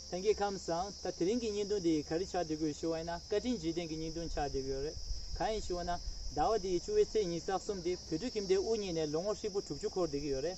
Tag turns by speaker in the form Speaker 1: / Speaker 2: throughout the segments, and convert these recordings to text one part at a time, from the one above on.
Speaker 1: ཐེངས་གི་ཁམས་སང་ད་དེ་རིང་གི་སྙིང་དོན་དེ་ག་རེ་ཆགས་བསྡད་དགོས་ཞུ་བ་ཡིན་ན་བཀའ་དྲིན་རྗེས་དྲན་གི་སྙིང་དོན་ཆགས་བསྡད་དགོས་རེད་གང་ཡིན་ཞུ་བ་ན་ཟླ་བ་འདིའི་བཅུ་བའི་ཚེས་ཉིས་སྟག་གསུམ་དེ་བོད་ཕྲུག་ཁྱིམ་སྡེ་དབུ་བརྙེས་ནས་ལོ་ངོ་ཧྲིལ་པོ་དྲུག་ཅུ་འཁོར་བསྡད་ཀྱི་ཡོད་རེད།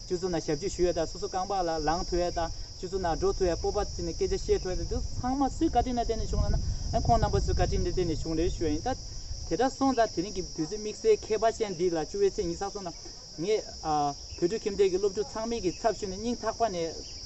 Speaker 1: ཆུ་ཚོད་ན་ཞབས་ཕྱི་ཞུ་བའི་སྟག་སོ་སོ་རྐང་པ་ལ་ལངས་ཐུ་བའི་སྟག་ཆུ་ཚོད་ན་འགྲོ་ཐུ་བའི་སྤོབས་པ་ཅི་ནས་སྐད་ཆ་བཤད་འཕྲོ་ཡ་དེ་ཚང་མ་སུའི་བཀའ་དྲིན་ལ་བརྟེན་ནས་བྱུང་ལ་ན་ཨེ་ཁོང་རྣམ་པ་ཚོའི་བཀའ་དྲིན་ལས་བརྟེན་ནས་བྱུང་རེད་ཤོད་ཡིན་ད་དེ་འདྲ་སོང་ད་དེ་རིང་གི་དུས་ཚོད་དམིགས་བསལ་མཁས་པ་ཅན་འདི་ལ་བཅུ་བའི་ཚེས་ཉི་ས་སོང་ན་ངས་བོད་ཕྲུག་ཁྱིམ་སྡེ་གི་སློབ་ཕྲུག་ཚང་མིག་གི་ཚབ་ཞུས་ནས་སྙིང་ཐག་པ་ནས།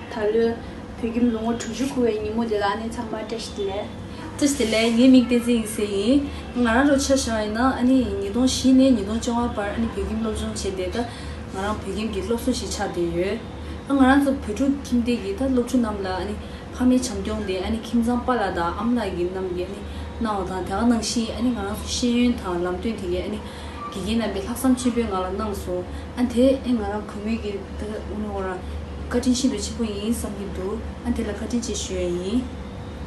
Speaker 2: ད་ལོའི་བོད་ཁྱིམ་ལོ་ངོ་དྲུག་ཅུ་འཁོར་བའི་ཉིན་མོ་འདི་ལ་ནི་ཚང་མར་བཀྲ་ཤིས་བདེ་ལེགས། བཀྲ་ཤིས་བདེ་ལེགས་ངའི་མིང་བསྟན་འཛིན་ཡིན་ཟེར་ཡིན། ང་རང་རོགས་ཆ་ཞང་ཡིན་ན་ཨ་ནི་ཉིས་སྟོང་བཞི་ནས་ཉིས་སྟོང་བཅོ་ལྔ་བར་ཨ་ནི་བོད་ཁྱིམ་སློབ་སྦྱོང་བྱས་བསྡད་ད་ང་རང་བོད་ཁྱིམ་གྱི་སློབ་གསོ་ཞིག་ཆགས་བསྡད་ཡོད། ཨ་ང་རང་ཚོ་བོད་ཕྲུག་ཁྱིམ་སྡེ་གྱི་ད་སློབ་ཕྲུག་རྣམས་ལ་ཨ་ནི་ཕ་མའི་བྱམས་སྐྱོང་དེ་ཨ་ནི་ཁྱིམ་ཚང་པ་ལགས་དང་ཨམ་ལགས་ཀྱི་རྣམས་ཀྱིས་ཨ་ནི་གནང་བ་དང་དེ་ག་ནང་བཞིན་ཨ་ནི་ང་རང་ཚོ་ཤེས་ཡོན་དང་ལམ་སྟོན་དེ་གའི་ཨ་ནི་དགེ་རྒན་རྣམས་པས་ལྷག་བསམ་ཆེན་པོས་ང་ལ་གནང་སོང་ཨ་དེས་ཨེ་ང་རང་གུས་མོས་ཀྱི། ད་ལྟ་དབུ་མའི་བ་ར། བཀའ་དྲིན་ཤིན་ཏུ་ཆེན་པོ་ཡིན་བསམ་གྱི་འདུག་ཨ་དེ་ལ་བཀའ་དྲིན་ཆེ་ཞུ་ཡ་ཡིན།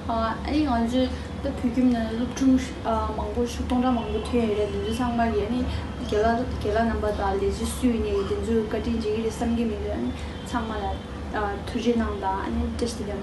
Speaker 2: ཨ་ནི་ང་ཚོས་ད་བོད་ཁྱིམ་ནས་སློབ་ཕྲུག་མང་པོ་ཕྱུགས་སྟོང་ཕྲག་མང་པོ་ཐོན་ཡོད་རེད་དེ་ཚོའི་ཚང་མར་ཡ་ནི་རྒྱ་ལ་རྒྱ་ལ་རྣམ་པ་དང་ལས་བྱེད་སུ་ཡིན་ཡ་ཡིན་དེ་ཚོས་བཀའ་དྲིན་རྗེ་གི་རེད་བསམ་གྱི་མི་འདུག་ཨ་ནི་ཚང་མ་ལ་ཐུགས་རྗེ་གནང་དང་ཨ་ནི་བཀྲ་ཤིས་བདེ་ལེགས།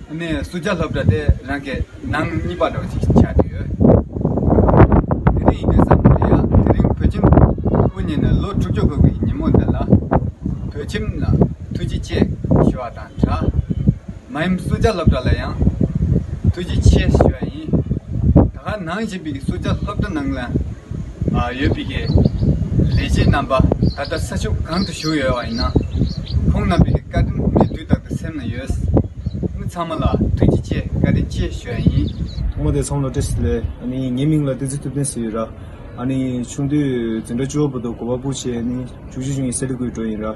Speaker 3: ནས་སུ་བརྒྱ་ལྷབ་འདྲ་སྟེ་རང་གི་ནང་གཉིས་པ་འདྲ་བ་ཞིག་ཆགས་ཀྱི་ཡོད། དེ་རིང་ཡིན་པའི་བསམ་བློ་ལ་ཡང་དེ་རིང་བོད་ཁྱིམ་དབུ་བརྙེས་ནས་ལོ་དྲུག་ཅུ་འཁོར་བའི་ཉིན་མོ་འདི་ལ། བོད་ཁྱིམ་ལ་ཐུགས་རྗེ་ཆེ་ཞུ་བ་དང་འདྲ། མ་ཡུམ་སུ་བརྒྱ་ལྷབ་འདྲ་ལ་ཡང་ཐུགས་རྗེ་ཆེ་ཞུ་བ་ཡིན། ད་ག་ནང་བཞིན་པའི་སུ་བརྒྱ་ལྷབ་འདྲ་ནང་ལ། ཡོད་པའི་ཀྱི་ལས་བྱེད་རྣམ་པ་ད་ལྟ་ས་ཕྱོགས་གང་དུ་བཞུགས་ཡོད་བ་ཡིན་ན། ཁོང་རྣམ་པའི་ཀྱི་བཀའ་དྲིན་ངས་དུས་རྟག་ཏུ་སེམས་ན་ཡོད། མི་ཚང་མ་ལ་ཐུགས་རྗེ་ཆེ་བཀའ་དྲིན་ཆེ་ཞུ་ཡ་ཡིན། ཐོག་མ་དེ་ཚང་ལོ་
Speaker 4: ཏེས་ལས་ནི་ངའི་མིང་ལ་ཏེ་ཙི་ཐུབ་བསྟན་ཟེར་ཡོད་ར་ཨ་ནི་ཆུང་དུས་འཛིན་གྲྭ་བཅུ་བ་པོ་དུ་གོ་བ་པོ་ཆེ་ནི་བཅུ་གཅིག་བྱུང་ཡིན་སེ་ལི་ཀུའི་འགྲོ་ཡིན་ར།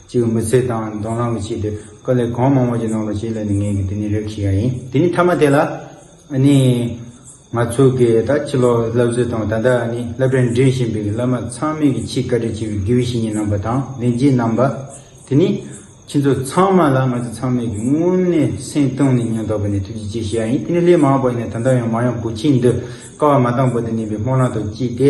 Speaker 5: གཅིག་གི་མི་ཚེ་དང་མདོང་ལམ་གྱི་ཆེད་དུ་དཀའ་ལས་གང་མང་བོ་བྱེད་གནང་བ་བྱས་ལ་ནི་ངས་ཀྱི་དེ་ནི་རེབ་ཤི་ཡ་ཡིན་དེ་ནི་མཐའ་མ་དེ་ལ་ཨ་ནི་ང་ཚོ་གི་ད་ཕྱི་ལོག་བསླབ་གཟི་དང་ད་ལྟ་ཨ་ནི་བསླབ་གྲྭ་འགྲིམ་བཞིན་པའི་གི་བསླབ་མ་ཚང་མས་ཀྱི་ཆེས་བཀའ་དྲིན་ཆེ་བའི་དགེ་བའི་བཤེས་གཉེན་རྣམ་པ་དང་ལས་བྱེད་རྣམ་པ་དེ་ནི་ཁྱེད་ཚོ་ཚང་མ་ལ་ང་ཚོ་ཚང་མས་ཀྱི་དངོས་གནས་སེམས་སྟོང་ནས་སྙིང་ཐག་པ་ནས་ཐུགས་རྗེ་ཆེ་ཞུ་ཡ་ཡིན་དེ་ནི་སླད་མང་བ་ནས་ད་ལྟ་ཡང་མང་ཡང་གོ་ཆེན་འདི་དཀའ་བ་མ་དང་པོ་དེ་ནི་བའི་སྨོན་ལམ་དང་བཅས་ཏེ།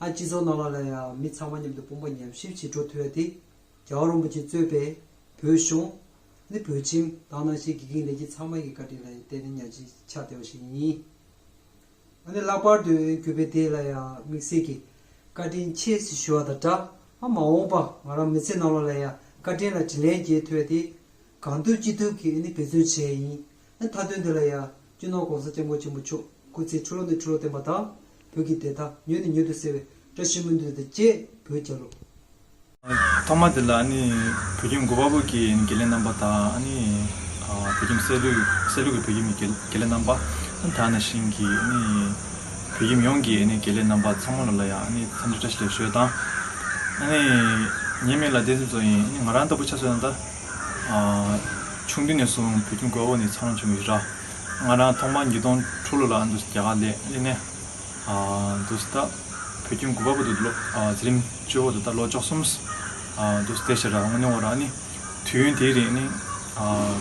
Speaker 6: ཨ་སྤྱི་ཚོགས་ནང་ལ་ལ་ཡང་མི་ཚང་མ་མཉམ་དུ་དཔུང་པ་མཉམ་གཤིབ་བྱེད་འགྲོ་ཐུབ་ཡ་དེ། རྒྱ་བ་རོང་པོ་ཆེ་གཙོས་པའི་བོད་གཞུང། ནི་བོད་ཁྱིམ་དང་ནང་ཆེན་དགེ་རྒན་ལས་བྱེད་ཚང་མ་ཡི་བཀའ་དྲིན་ལ་བརྟེན་ནས་གཉའ་ཁྱི་ཆགས་བདེ་བ་ཞིག་ཡིན། ཨ་ནི་ལྷག་པར་དུ་གུས་པས་དེ་ལ་ཡང་དམིགས་བསལ་གྱི་བཀའ་དྲིན་ཆེ་ཞེས་ཞུ་བ་དང་སྦྲགས་ཨ་མ་འོངས་པ་ང་རང་མི་ཚེ་ནང་ལ་ལ་ཡང་བཀའ་དྲིན་ལ་དྲིན་ལན་འཇལ་ཐུབ་ཡ་དེ། གང་ཐུབ་ཅི་ཐུབ་ཀྱིས་ཨ་ནི་འབད་བརྩོན་བྱས་ཡིན། ཨ་ནི་མཐའ་དོན་འདི་ལ་ཡང་སྤྱི་ནོར ྋགོང་ས ྋསྐྱབས་མགོན་ཆེན་པོ་མཆོག་སྐུ་ཚེའི་འཕྲོ་ལོ་ནས་འཕྲོ་ལོ་བརྟན་པ་དང། བོད་ཀྱི་བདེ་ཐང་མྱུར་ནས་མྱུར་དུ་གསལ་བའི་བཀྲ་ཤིས་སྨོན་འདུན་དང་བཅས་བོད་རྒྱལ་ལོ།
Speaker 7: ཐོག་མ་དེ་ལ་བོད་ཁྱིམ་མགོ་པ་པོ་ཀྱི་དགེ་ལས་རྣམ་པ་དང། བོད་ཁྱིམ་སྲས་ལུག་སྲས་ལུག་གི་བོད་ཁྱིམ་གྱི་དགེ་ལས་རྣམ་པ། དར་ནག་ཞིང་གི་བོད་ཁྱིམ་ཡོངས་ཀྱི་དགེ་ལས་རྣམ་པ་ཚང་མ་ལ་ཡང་འཚམས་འདྲི་བཀྲ་ཤིས་ལེགས་ཞུ་དང། ཉེས་མེད་ལ་བརྟན་སྲུང་གཙོ་ཡིན། ང་རང་ལྟ་བུ་ཆ་མཚོན་ན་ད། ཆུང་དུས་ནས་བཟུང་བུ་ཆུང་གོའོ་ནི་འཚར་ལོངས་བྱུང་བའི་ར། ང་རང་ཐོག་མར་ཉིས་སྟོང་དྲུག་ལོ་ལ་ཨ་མདོ་རྒྱ་གར་ལས་གླིང་ནས་འདུག་སྟབས་བུ་ཆུང་གོ་པ་པོ་དང་ཚེ་རིང་གཅུ་བོ་དང་ད་ལོ་ཅོག་གསུམ་འདུག་སྟེ་ཤི་རག་མངོན་བ་རག་ནི་དུས་ཡུན་དེའི་རིང་ནི་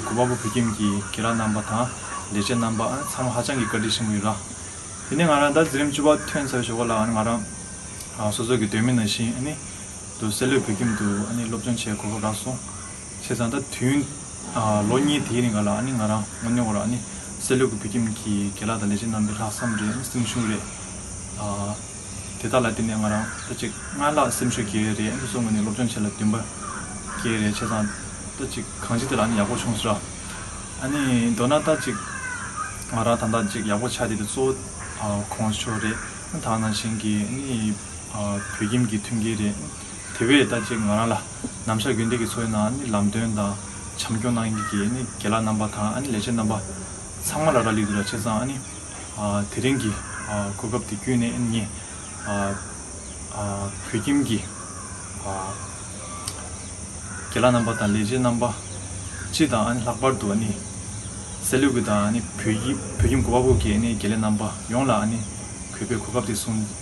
Speaker 7: གོ་པ་པོ་བུ་ཁྱིམ་གྱི་དགེ་རག་རྣམ་པ་དང་ལས་བྱེད་རྣམ་པ་ཚང་མ་ཧ་ཅང་གི་བཀའ་དྲིན་ཆེན་པོ་ཡོད་ར། དེ་ནས་ང་རང་ད་ཚེ་རིང་གཅུ་བ་ཐོན་ཚར་བའི་ཞོགས་པ་ལ་ང་རང་སོ་སོ་གི་སྡོད་མི་ན་བཞིན་ནི་དུ་སེ་ལོས་བོད་ཁྱིམ་དུ་ཨ་ནི་སློབ་སྦྱོང་བྱེད་དགོས་སྐོར་བསྒྲགས་སོང། བྱས་ཙང་ད་དུས་ལོ་གཉིས་དེའི་རིང་ག་ལ་ཨ་ནི་ང་རང་ངོ་གནོང་བར་ཨ་ནི་སེ་ལོས་ཀྱི་བོད་ཁྱིམ་གྱི་དགེ་ལགས་དང་ལས་བྱེད་རྣམ་པའི་ལྷག་བསམ་རེད་ཨ་ནི་སེམས་ཤུགས་རེད། དེ་དག་ལ་བརྟེན་ནས་ང་རང་ད་ཅིག་སྔར་ལྷག་སེམས་ཤུགས་རྒྱས་རེད་ཨ་ནི་གསུངས་ང་ནི་སློབ་སྦྱོང་བྱེད་ལ་འདུན་པ་རྒྱས་རེད་བྱས་ཙང་ད་ཅིག་གང་ཅི་དེ་ལ་ཨ་ནི་ཡག་པོ་བྱུང་ཟེར། ཨ་ནི་མདོར་ན་ད་ཅིག་ང་རང་དང་ད་ཅིག་ཡག་པོ་ཆགས་ཏེ་དེ་གཙོ་བོ་གོང་ཞོག་རེད་ཨ་ནི་ད་ང་ནང་བཞིན་གྱི་ཨ་ནི། བོད་ཁྱིམ་གྱི་མཐུན་རྐྱེན་རེད། དེ་བས་ད་ཅིག་ང་རང་ལ་ནམ་ཞར་དགེ་འདུན་གྱི་ཚོགས་ནང་ལམ་སྟོན་དང་བྱམས་སྐྱོང་གནང་མཁན་གྱི་དགེ་ལགས་རྣམ་པ་དང་ལས་བྱེད་རྣམ་པ་ཚང་མ་ལ་རག་ལས་འདུག་ལ་ཆེ་ཚང་དེ་རིང་གི་གོ་སྐབས་འདི་བརྒྱུད་ནས་ངས་བོད་ཁྱིམ་གྱི་དགེ་ལགས་རྣམ་པ་དང་ལས་བྱེད་རྣམ་པ་སྤྱི་དང་ལྷག་པར་དུ་སེར་ལུས་ཀྱི་དང་བོད་ཁྱིམ་གོ་བ་པོ་གྱི་དགེ་ལས་རྣམ་པ་ཡོངས་ལ་གུས་པས་གོ་སྐབས་འདི་གསུངས།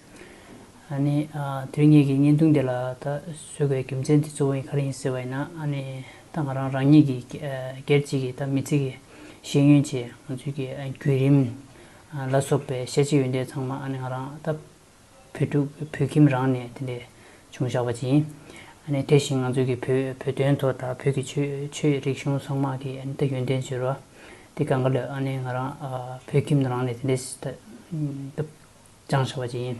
Speaker 8: ཨ་ནི། དོན་གཉིས་ཀྱི་བརྙན་ཐུང་འདི་ལ་ད་གཟོད་དགོས་པའི་རྒྱུ་མཚན་དེ་གཙོ་བོ་ཡིན་ག་རེ་ཡིན་ཟེར་བ་ཡིན་ན་ཨ་ནི། ད་ང་རང་རང་ཉིད་ཀྱི་སྒེར་གཅིག་གིས་ད་མི་ཚེ་གི་ཤེས་ཡོན་ཆེད་ང་ཚོའི་གི་བརྒྱུད་རིམ། ལ་སོགས་པའི་ཤེས་བྱའི་ཡོན་ཏན་ཚང་མ་ཨ་ནི་ང་རང་ད་བོད་ཕྲུག་བོད་ཁྱིམ་རང་ནས་དེ་འདྲས་བྱུང་བཞག་པ་ཅིག་ཡིན། ཨ་ནི་དེ་བཞིན་ང་ཚོའི་གི་བོད་བོད་དོན་ཐོག་ད་བོད་ཀྱི་ཆོས་ཆོས་རིག་གཞུང་ཚང་མ་གི་ཨ་ནི་ད་ཡོན་ཏན་བཅོལ་བ་དེ་ག་འགའ་ལོས་ཨ་ནི་ང་རང་བོད་ཁྱིམ་རང་ནས་དེ་འདྲས་ད། ཅང་ཆེ་བ་བཅས་ཡིན།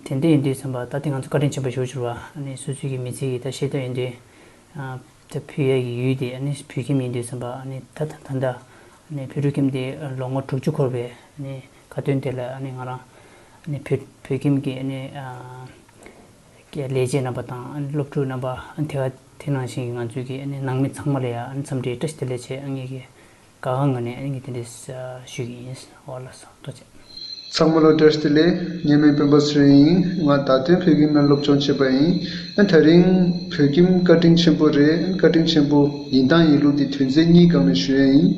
Speaker 8: དེ་འདི་ཡིན་དུས་ཚན་པ་ད་ལྟའི་ང་ཚོས་བཀའ་དྲིན་ཆེན་པོ་ཞུ་འཕྱུར་བ། སོ་སོའི་གི་མི་ཚེ་གི་ད་ཤེས་དོན་ཡིན་དུས། ད་བུ་ཡ་གི་ཡུལ་དེ་བོད་ཁྱིམ་ཡིན་དུས་ཚན་པ་ད་ད་ད་ད། བོད་ཕྲུག་ཁྱིམ་དེ་ལོ་ངོ་དྲུག་ཅུ་འཁོར་བའི་དགའ་སྟོན་དེ་ལ་ང་རང། བོད་བོད་ཁྱིམ་གི་ལས་བྱེད་རྣམ་པ་དང་སློབ་ཕྲུག་རྣམ་པ་དེ་ག་དེ་ནང་བཞིན་གྱི་ང་ཚོའི་གི་ནང་མི་ཚང་མ་ལ་ཡང་འཚམས་འདྲིའི་བཀྲ་ཤིས་བདེ་ལེགས་བྱེད་ངེས་ཀྱི། ག་གང་གི་ནས་ངས་དེ་འདྲས་ཞུས་ཀྱི་ཡིན། ཨོ་ལགས་སོ་ལྟོ་ཅན། མཚང་མོ་ལོ་ཀྲེར་
Speaker 9: ཏི་ལེ། ངེད་མི་དཔོན་པོ་སུ་རེད་ཡིན། ང་ད་དུང་བོད་ཁྱིམ་ན་སློབ་སྦྱོང་བྱེད་པ་ཡིན། ཨན་ད་རིང། བོད་ཁྱིམ་བཀའ་དྲིན་ཆེན་པོ་རེད་ཨན་བཀའ་དྲིན་ཆེན་པོ། ཡིན་དང་ཡིན་ལུགས་དེ་དོན་ཚན་གཉིས་སྒང་ནས་ཞུ་ཡས་ཡིན།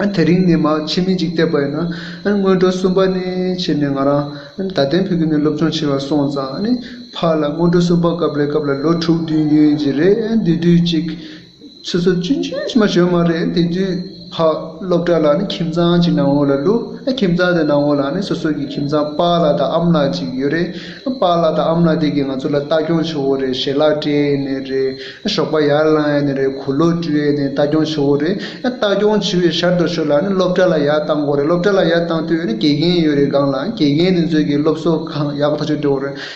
Speaker 9: ཨན་དེ་རིང་ནས་མ་ཕྱི་མི་འཇིག་བསྡད་པ་ཡིན་ན། ཨན་སྔོན་འགྲོ་གསུམ་པ་ནས་བྱས་ནས་ང་རང། ཨན་ད་དེང་བོད་ཁྱིམ་ནས་སློབ་སྦྱོང་བྱེད་པར་སོང་ཙང་ཨ་ནི། ཕ་ལ་སྔོན་འགྲོ་གསུམ་པ་སྐབས་ལས་སྐབས་ལ་ལོ་དྲུག་བདུན་ཡོད་ཀྱི་རེད་ཨན་དེ་དུས་གཅིག། ཆུ་ཚོད་བཅུ་བཅུ་ཕྱི་མ་བྱོན་མ་རེད་དེ་དུས་བག་སློབ་གྲྭ་ལ་ནི་ཁྱིམ་ཚང་གཅིག་ནང་འོག་ལ་བླུག་ཨ་ཁྱིམ་ཚང་དེ་ནང་འོག་ལ་ནི་སོ་སོ་གི་ཁྱིམ་ཚང་པཱ་ལགས་དང་ཨམ་ལགས་གཅིག་ཡོད་རེད་པཱ་ལགས་དང་ཨམ་ལགས་དེ་གིས་ང་ཚོ་ལ་ལྟ་སྐྱོང་ཆུ་བོ་རེད་ཞལ་ལག་སྤྲད་ཡས་ནས་རེད་ཞོགས་པ་ཡར་བླངས་ཡས་ནས་རེད་གུར་ལོ་བཀྲུ་ཡས་ནས་ལྟ་སྐྱོང་ཆུ་བོ་རེད་ལྟ་སྐྱོང་ཆུ་བོའི་ཞར་དུ་ཆུ་ལ་ནི་སློབ་གྲྭ་ལ་ཡར་བཏང་དགོས་རེད་སློབ་གྲྭ་ལ་ཡར་བཏང་དུས་ནི་དགེ་རྒན་ཡོད་རེད་སྒང་ལ་དགེ་རྒན་དེ་ཚོས་གིས་སློབ་གསོ་གང་ཡག་ཐག་གཅོད་དགོས་རེད་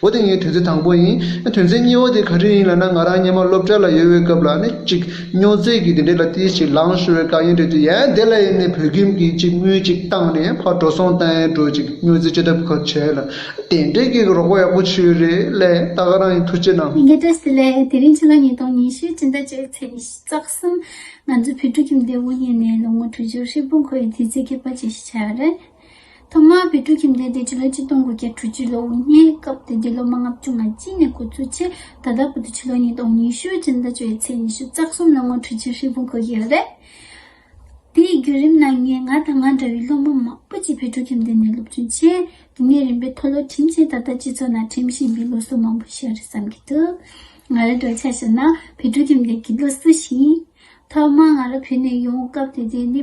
Speaker 9: འོ་དེ་ངའི་དོན་ཚན་དང་པོ་ཡིན། དོན་ཚན་གཉིས་བོ་དེ་ག་དུས་ཡིན་ལ་ན་ང་རང་སྙེ་མ་སློབ་གྲྭ་ལ་ཡོད་བའི་སྐབས་ལ་ནི་ཅིག་སྨྱོ་རྫས་ཀྱི་དེ་འདྲས་ལ་ཏིལ་ཞིག་ལངས་ཤོར་བའི་དཀའ་ངལ་འཕྲད་དུས་ཡན་དེ་ལ་ཡིན་ནས་བོད་ཁྱིམ་གྱིས་ཅིག་དངུལ་ཅིག་བཏང་ནས་ཕར་འགྲོ་སོང་ལྟ་ཡན་འགྲོ་ཅིག་སྨྱོ་རྫས་སྤྱོད་ཐབས་ཁག་བྱས་ལ་དེ་འདྲས་ཀྱི་རོགས་པ་ཡག་པོ་བྱོས་རེད་ལས་ད་ག་རང་ཡིན་ཐུགས་རྗེ་གནང། ངའི་བཀྲ་ཟེར་ལས་དེ་
Speaker 2: རིང་ཕྱི་ལོ་ཉིས་སྟོང་ཉི་ཤུའི་སྤྱི་ཟླ་བཅུ་བའི་ཚེས་ཉི་ཤུ་རྩ་གསུམ་ང་ཚོའི་བོད་ཕྲུག་ཁྱིམ་སྡེ་དབུ་བརྙེས་ནས་ལོ་ངོ་དྲུག་ཅུ་ཧྲིལ་པོ་འཁོར་བའི་དུས་ཚིགས་སྐྱེལ་པ་བཅས་ཤིག་བྱས་པ་རེད། ཐོག་མར་བོད་ཕྲུག་ཁྱིམ་སྡེ་དེ་ཕྱི་ལོ་ཆིག་སྟོང་དགུ་བརྒྱ་དྲུག་ཅུ་ལོ་དབུ་བརྙེས་སྐབས་དེ་དུས་ལོ་མང་ལྔ་བཅུ་ང་གཅིག་ནས་འགོ་ཚུགས་ཆེད་ད་ལྟ་བར་དུ་ཕྱི་ལོ་ཉིས་སྟོང་ཉི་ཤུ་སྤྱི་ཟླ་བཅུ་བའི་ཚེས་ཉི་ཤུ་རྩ་གསུམ་ལ་ངོ་འཕྲོད་ཆེད་ཧྲིལ་པོ་འགོད་ཀྱི་ཡོད་རེད། དེའི་བརྒྱུད་རིམ་ནང་ངས་ང་དང་ང་འདྲ་བའི་སློབ་མ་མང་པོ་ཅིག་བོད་ཕྲུག་ཁྱིམ་སྡེ་ནས་སློབ་སྦྱོང་ཆེད་དུས་ངེས་རིམ་པས་མཐོ་སློབ་འགྲིམས་ཆེད་ད་ལྟ་སྤྱི་ཚོགས་ནང་འགྲིམས་བཞིན་པའི་ལོ་གསོ་མང་པོ་ཞིག་རེད་བསམ་གྱི་འདུག་ང་རང་གྲོས་འཆར་ཞིག་ནང་བོད་ཕྲུག་ཁྱིམ་སྡེ་གྱི་ལོ་གསོ་ཞིང། ཐོག་མར་ང་རང་བོད་ནས་ཡོང་སྐབས་དེ་དུས་ནི།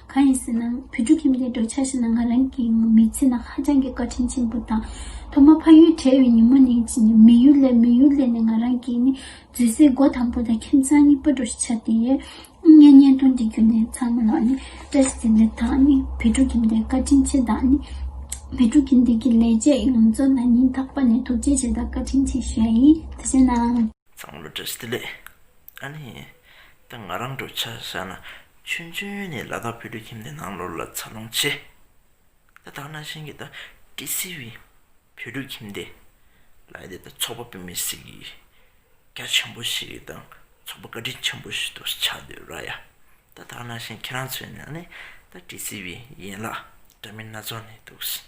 Speaker 2: གང་ཡིན་ཟེར་ན་བུ་ཕྲུག་ཁྱིམ་སྡེའི་འགྲོ་འཆག་ཤེས་ན་ང་རང་གི་མི་ཚེ་ནང་ཧ་ཅང་གི་བཀའ་དྲིན་ཆེན་པོ་དང། ཐོག་མ་ཕ་ཡུལ་བྲལ་བའི་ཉིན་མོ་ནས་མི་ཡུལ་ལས་མི་ཡུལ་ལས་ནས་ང་རང་གི་ནི་བརྫུས་སའི་སྒོ་དང་པོ་དང་ཁྱིམ་ཚང་གཉིས་པ་འགྲོ་ཤེས་ཆགས་ཏེ། ངའི་གཉེན་སྟོན་གྱི་རྒྱུ་ནི་ཚང་མ་ལ་ནི་བཀྲ་ཤིས་ཟེར་འདི་དག་ནི་བུ་ཕྲུག་ཁྱིམ་སྡེའི་བཀའ་དྲིན་ཆེ་དང་ནི། བུ་ཕྲུག་ཁྱིམ་སྡེ་གི་ལས་བྱེད་ཡོངས་རྫོགས་ལ་ཉིན་རྟག་པ་ནས་ཐུགས་རྗེ་ཆེ་དང་བཀའ་དྲིན་ཆེ་ཞུ་ཡ་ཡིན་ད་བཤད་ན། ཚང་མ་ལ་བཀྲ་ཤིས་བདེ་
Speaker 10: ལེགས། ཨ་ནི། ད་ང་རང་འགྲོ་འཆག་ཤག་ན་ཆོས་འབྱུང་ཡོན་ནི་ལ་དྭགས་བོད་ཕྲུག་ཁྱིམ་ནས་ནང་ལོར་ལ་ཚར་ལོངས་ཆེ། ད་དྭགས་ནང་བཞིན་གྱི་ད་ཏྲི་སི་བི་བོད་ཕྲུག་ཁྱིམ་དེ། ལ་ཡི་དེ་ད་ཚོགས་པ་བོད་མི་སེར་གྱི་རྒྱ་ཆེན་པོ་ཞིག་དང་ཚོགས་པ་བཀའ་དྲིན་ཆེན་པོ་ཞིག་ཏུ་ཆགས་འདོད་ར་ཡ། ད་དྭགས་ནང་བཞིན་ཁྱེད་རང་ཚོའི་ནང་ནས་ད་ཏྲི་སི་བི་ཡན་ལག་འདྲ་མིན་སྣ་ཚོགས་ནས་འདུག་ཟེར་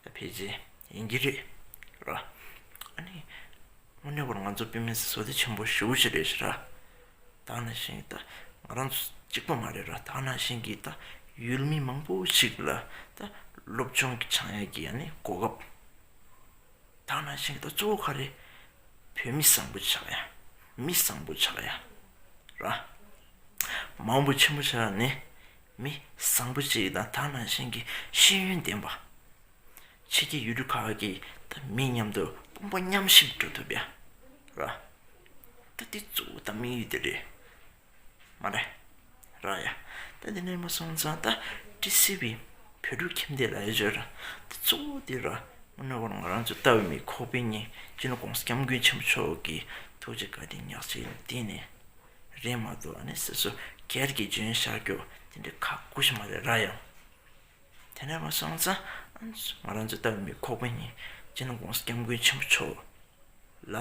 Speaker 10: ད་ཕལ་ཆེར་ཡིན་གྱི་རེད་ར། ཨ་ནི། དངོས་གནས་པོར་ང་ཚོ་བོད་མི་སེར་སོ་ལྟས་ཆེན་པོ་ཞིག་ཨུ་ཅི་རེད་ཟེར་ར། ད་ནི་བཞིན་གྱིས་ད་ང་རང་ཚོ་གཅིག་པོ་མ་རེད་ར་ད་ནི་བཞིན་གྱིས་ད་ཡུལ་མི་མང་པོ་ཞིག་ལ་ད་སློབ་ཆུང་གི་ཆང་ཡག་གི་ཡ་ནི་གོ་སྐབས་ད་ནི་བཞིན་གྱིས་ད་གཙོ་བོ་ག་རེ་བོད་མི་བཟང་པོ་ཆགས་ཡ་མི་བཟང་པོ་ཆགས་ཡ་ར་མང་པོ་ཆེན་པོ་ཆགས་ཡ་ནི་མི་བཟང་པོ་ཅིག་དང་ད་ནི་བཞིན་གྱི་ཤེས་ཡོན་ལྡན་པ་ཕྱི་རྒྱལ་ཡུལ་གྲུ་ཁག་གི་ད་མི་མཉམ་དུ་དཔུང་པ་མཉམ་གཤིབ་འགྲོ་ཐུབ་ཡ་ར། ད་འདི་གཙོ་བོ་ད་དམིགས་ཡུལ་དེ་རེད་མ་རེད། ར་ཡ། ད་འདི་ནས་མ་སོང་ཙང་ད་ཀྲི་སི་བའི་བོད་ཕྲུག་ཁྱིམ་སྡེ་ལ་ཡོད་ཆོས་ར་འདི་གཙོ་བོ་དེ་ར་མ་ནོར་བར་ང་རང་ཚོའི་ལྟ་བའི་མི་ཁོག་པའི་ཉིན་རྒྱུན་ལ་ཀོང་ས་སྐྱབས་མགོན་ཆེན་པོ་མཆོག་གི་ཐུགས་རྗེ་བཀའ་དྲིན་ཉག་ཅིག་ལ་བརྟེན་ནས་རེད་མ་གཏོགས་ཨ་ནེ་སི་སོ་སྐྱར་གྱི་ལྗོན་ཤག་སྐྱོགས་དེ་འདྲའི་ཁག་པོ་ཞིག་མ་རེད་ར་ཡ། དེ་ནས་བ་སངས་ཙང་ང་རང་ཚོའི་ལྟ་བའི་མི་ཁོག་པ་གཉིས་ཅི་ན་དགོངས་སུ་སྐྱབས་མགོན་ཆེན་པོ་མཆོག་ལ་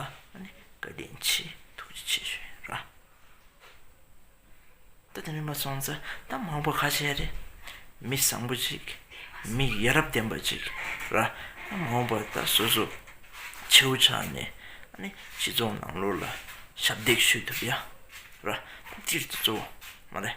Speaker 10: བཀའ་དྲིན་ཆེ་ཐུགས་རྗེ་ཆེ་ཞུ་ཡི་རང། ད་དེ་ནས་བ་སངས་ཙང་ད་མང་པོ་ཁ་ཆེ་རེད། མི་བཟང་པོ་ཅིག་མི་ཡ་རབས་ལྡན་པ་ཅིག་རང་མང་པོ་ད་སོ་སོ་ཁྱེའུ་ཆགས་ནས་སྤྱི་ཚོགས་ནང་ལོགས་ལ་ཞབས་འདེགས་ཞུས་ཐུབ་ཡ་རང། སྤྱིར་དུ་གཙོ་བོ་མ་རེད།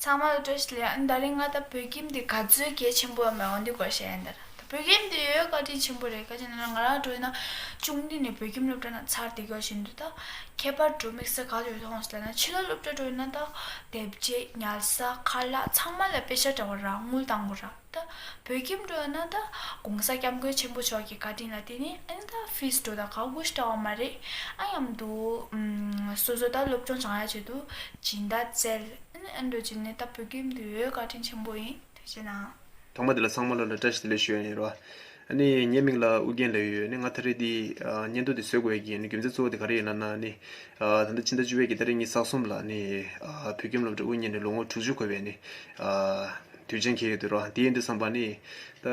Speaker 10: ཚང་མ་
Speaker 2: ལ་དྲོད་ཞིག་ལས་ཨ་མདའ་རིང་ང་ད་བོད་ཁྱིམ་འདི་ག་ཚོད་གལ་ཆེན་པོ་ཡང་མེད་འོང་དུས་གོ་ཤེས་ཨ་མདའ་ར་ད་བོད་ཁྱིམ་འདི་ཡོད་བཀའ་དྲིན་ཆེན་པོ་རེད་གལ་ཆེན་ན་ང་རང་ལ་དྲོད་ན་ཅུང་དུས་ནས་བོད་ཁྱིམ་སློབ་གྲྭ་ན་ཚར་དེ་ག་བཞིན་དུ་ད་ཁྱད་པར་དྲོད་དམིགས་ས་ག་ཚོད་མཐོང་སྲིད་ལ་ན་ཕྱི་ལོག་སློབ་གྲྭ་དྲོད་ན་ད་དེབ་རྗེས་ཉལ་ས་ཁ་ལག་ཚང་མ་ལ་དཔེ་ཆ་འདྲ་བ་རག་དངུལ་བཏང་གོ་ར། ད། བོད་ཁྱིམ་འགྲོ་ཡོང་ན་ད། གོང་ས་སྐྱབས་མགོན་ཆེན་པོ་མཆོག་གི་བཀའ་དྲིན་ལ་བརྟེན་ནས་ཨང་ད་ཕིས་འགྲོ་དང་ག་གུས་བཀྲ་བ་མ་རེད་ཨང་ཡམ་འདུག། སོ་སོ་ད་སློབ་སྦྱོང་བྱང་ཡ་བྱེད་དུ་སྦྱིན་བདག་བཙལ་ཨང་འགྲོ་རྒྱུ་ནི་ད་བོད་ཁྱིམ་འདི་འོས་བཀའ་དྲིན་ཆེན་པོ་ཡིན་ཐུགས་ཆེ་གནང། དང་པོ་དེ་ལ་ཚང་མ་
Speaker 4: བློ་ལ་བཀྲ་ཤིས་བདེ་ལེགས་ཞུ་ཡ་ཡིན་རོགས། ནི་ངའི་མིང་ལ་ཨུ་རྒྱན་ལོས་ཡོད་ནི་ང་ད་རེས་འདི་སྙན་ཐོ་འདི་བཟོ་དགོས་ཀྱི་ནི་རྒྱུ་མཚན་གཙོ་བོ་དེ་ག་རེ་ཡིན་ལ་ན་ནི་ད་ལྟ་ཕྱི་ཟླ་བཅུ་བའི་གྱི་ཟླ་རེ་གཉིས་ཟག་གསུམ་ལ་ནི་བོད་ཁྱིམ་སློབ་གྲྭ་དབུ་བརྙེས་ནས་ལོ་ངོ་དྲུག་ཅུ་འཁོར་བའི་ནི་དུས་ཆེན་ཁེལ་ཡོད་འདུག་རོགས་དེའི་འདི་བསམ་པ་ནི་ད་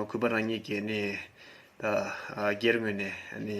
Speaker 4: གུས་པ་རང་ཉིད་ཀྱི་ནི་ད་སྒེར་ངོས་ནས་ནི།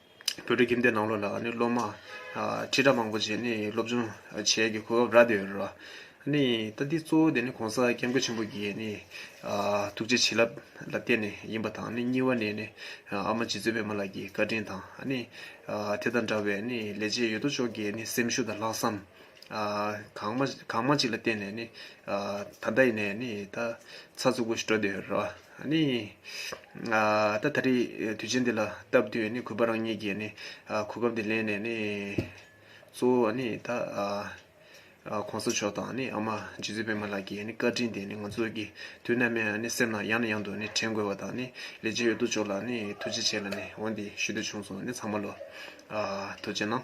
Speaker 11: བོད་ཕྲུག་ཁྱིམ་སྡེ་ནང་ལོགས་ལ་སློབ་མ་ཁྲི་ཕྲག་མང་པོ་ཞིག་སློབ་སྦྱོང་བྱེད་རྒྱུའི་གོ་སྐབས་རག་བསྡད་ཡོད་རེད། ད་འདི་གཙོ་བོ་དེ ྋགོང་ས ྋསྐྱབས་མགོན་ཆེན་པོ་གྱི་ཐུགས་རྗེ་བྱིན་རླབས་ལ་བརྟེན་ནས་ཡིན་པ་དང་གཉིས་བ་ནས་ཨ་མ་རྗེ་བཙུན་པདྨ་ལགས་ཀྱི་བཀའ་དྲིན་དང། དེ་དང་འདྲ་བའི་ལས་བྱེད་ཡོད་དོ་ཅོག་གི་སེམས་ཤུགས་དང་ལྷག་བསམ། གང་མང་ཅིག་ལ་བརྟེན་ནས་ནི། ད་ལྟ་ཡིན་ནས་ནི་ད་ཚ་ཚུགས་པོ་ཞིག་སྤྲོ་བསྡད་ཡོད་རེད་བ། ནི། ད་ད་རེས་དུས་ཆེན་འདི་ལ་སྟབས་བསྟུན་ནི་གུས་པ་རང་ཉིད་ཀྱིས་ནི། གོ་སྐབས་འདི་ལེན་ནས་ནི། གཙོ་བོ་ནི་ད། གོང་ས་མཆོག་དང་ནི་ཨ་མ་རྗེ་བཙུན་པད་མ་ལགས་ཀྱི་ནི་བཀའ་དྲིན་དེ་ནི་ང་ཚོ་གི་དུས་ནམ་ཡང་ནི་སེམས་ནང་ཡང་ནས་ཡང་དུ་ནི་དྲན་དགོས་བ་དང་ནི་ལས་བྱེད་ཡོད་དོ་ཅོག་ལ་ནི་ཐུགས་རྗེ་ཆེ་ལ་ནི་འོ་འདི་ཞུ་འདོད་བྱུང་སོང་ནི་ཚང་མ་ལོ། ཐུགས་རྗེ་གནང།